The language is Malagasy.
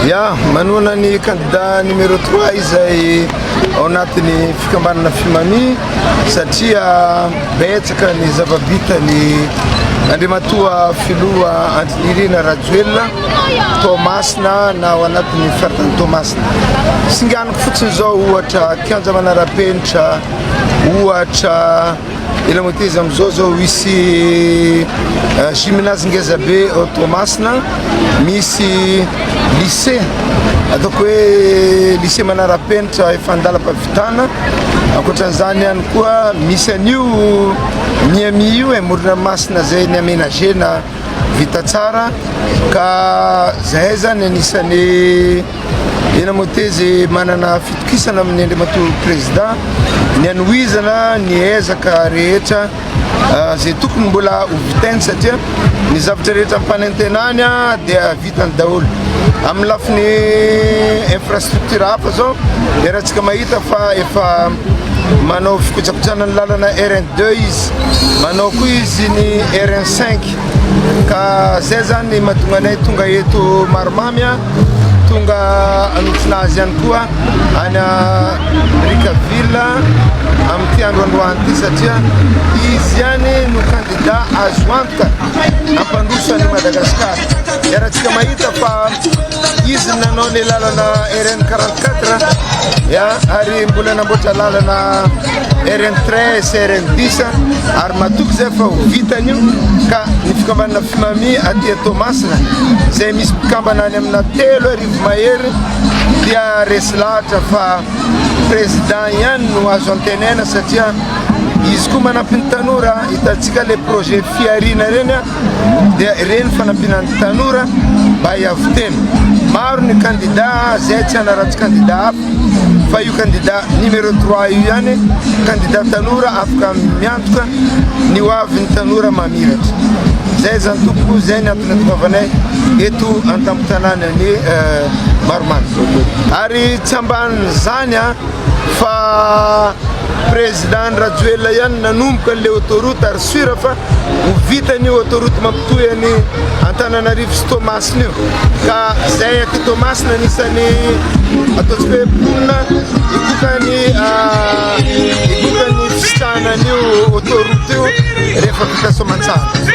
Ya, manohana ny kandida numéro 3 izay ao anatin'ny fikambanana Fimami satria betsaka ny zava-bita ny Andriamatoa Filoha Andry Nirina Rajoelina Toamasina na ao anatin'ny faritany Toamasina. Singaniko fotsiny izao ohatra kianja manara-penitra, ohatra Ela mateza amizao zao hisy gymnase ngezabe ao Toamasina, misy lycée ataoko hoe lycée manara-penitra efa an-dalam-pahavitana, ankoatran'izany ihany koa misy an'io Miami io e, Morona Masina izay ni-aménager-na vita tsara ka zahay zany anisan'ny. Tena Motezi manana fitokisana amin'ny Andriamatoa Prezidà ny hanohizana ny ezaka rehetra izay tokony mbola ho vitainy satria ny zavatra rehetra ampanantenany dia vitany daholo. Amin'ny lafiny infrastructure hafa zao dia ratsika mahita fa efa manao fikojakojaana ny lalana RN deux izy, manao koa izy ny RN cinq ka zay zany mahatonga anay tonga eto Marimamy. Tonga hanotrona azy ihany koa any Brickaville amin'ity andro androany ity satria izy ihany no kandida azo antoka hampandroso an'i Madagasikara. Iarahantsika mahita fa izy no nanao ny lalana RN 44 ary mbola namboatra lalana rn train sy rn bis ary matoky zay fa ho vitany io ka ny fikambanana fimami aty toamasina zay misy mpikambana any amina telo arivo mahery dia resy lahatra fa président ihany no azo antenaina satria izy koa manampin'ny tanora hitantsika le projet fiarina reny a dia ireny fanampiana ny tanora mba hiavo tena. Maro ny kandidà izay tsy hanaratsy kandidà hafa fa io kandidà numéro 3 io ihany kandidà tanora afaka miantoka ny ho avin'ny tanora mamiratra. Izay izany tompoko izay ny antony atovanay eto an-tampon-tanàna ny euh, Maromaro. Ary tsy ambanin'izany a ah, fa président Rajoelina ihany nanomboka le autoroute ary sura fa Ho vita an'io autoroute mampitohy an'i Antananarivo sy Toamasina io. Ka izay aty Toamasina anisan'ny ataontsika hoe mponina hikoka ny ah, hikoka ny fisitrahana an'io autoroute io rehefa vita soamantsara.